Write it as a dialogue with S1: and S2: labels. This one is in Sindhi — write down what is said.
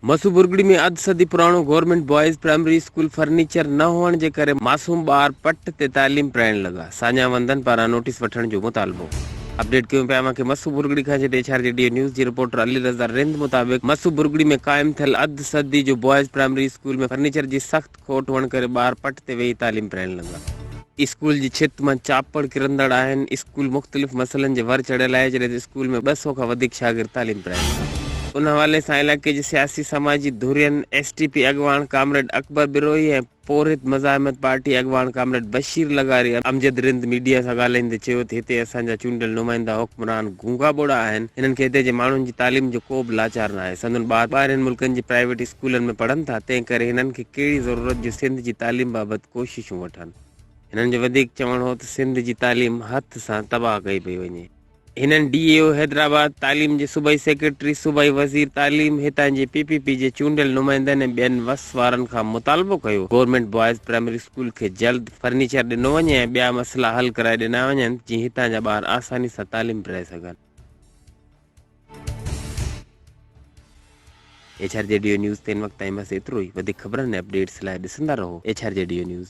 S1: مسو برگڙي ۾ اڌ صدي پراڻو government boys primary school furniture نه هئڻ جي ڪري معصوم ٻار پٽ تي تعليم پرائڻ لڳا، ساڃاهه وندن پاران نوٽيس وٺڻ جو مطالبو. اپڊيٽ ڪيون پيا اوهان کي مسو برگڙي کان جيٽي H R G Dev news جي رپورٽر علي رضا رند مطابق مسو برگڙي ۾ قائم ٿيل اڌ صدي جو بوائز پرائمري اسڪول ۾ فرنيچر جي سخت کوٽ هئڻ ڪري ٻار پٽ تي ويهي تعليم پرائڻ لڳا. اسڪول جي ڇت مان چاپڙ ڪرندڙ آهن. اسڪول مختلف مسئلن جي ور چڙهيل آهي، جڏهن ته اسڪول ۾ ٻه سؤ کان وڌيڪ شاگرد تعليم پرائين ٿا. ان حوالي سان علائقي جي سياسي سماجي ڌرين، ايس ٽي پي اڳواڻ ڪامريڊ اڪبر بروهي ۽ پورهيت مزاحمت پارٽي اڳواڻ ڪامريڊ بشير لغاري امجد رند ميڊيا سان ڳالهائيندي چيو ته هتي اسان جا چونڊيل نمائندا حڪمران گونگا ٻوڙا آهن، هنن کي هتي جي ماڻهن جي تعليم جو ڪو به لاچار ناهي، سندن ٻار ٻاهرين ملڪن جي پرائيويٽ اسڪولن ۾ پڙهن ٿا، تنهن ڪري هنن کي ڪهڙي ضرورت جو سنڌ جي تعليم بابت ڪوششون وٺن. هنن جو وڌيڪ چوڻ هو ته سنڌ جي تعليم هٿ سان تباهه ڪئي پئي وڃي. هنن ڊي اي او حيدرآباد، تعليم جي صوبائي سيڪريٽري، صوبائي وزير تعليم، هتان جي پي پي پي جي چونڊيل نمائندن ۽ ٻين وس وارن کان مطالبو ڪيو گورنمينٽ بوائز پرائمري اسڪول کي جلد فرنيچر ڏنو وڃي ۽ ٻيا مسئلا حل ڪرائي ڏنا وڃن جيئن هتان جا ٻار آساني سان تعليم پرائي سگهن. H R G Dev news تي هن وقت تائين بس ايترو ئي وڌيڪ خبرن ۽ اپڊيٽس لاء ڏسندا رهو H R G Dev news.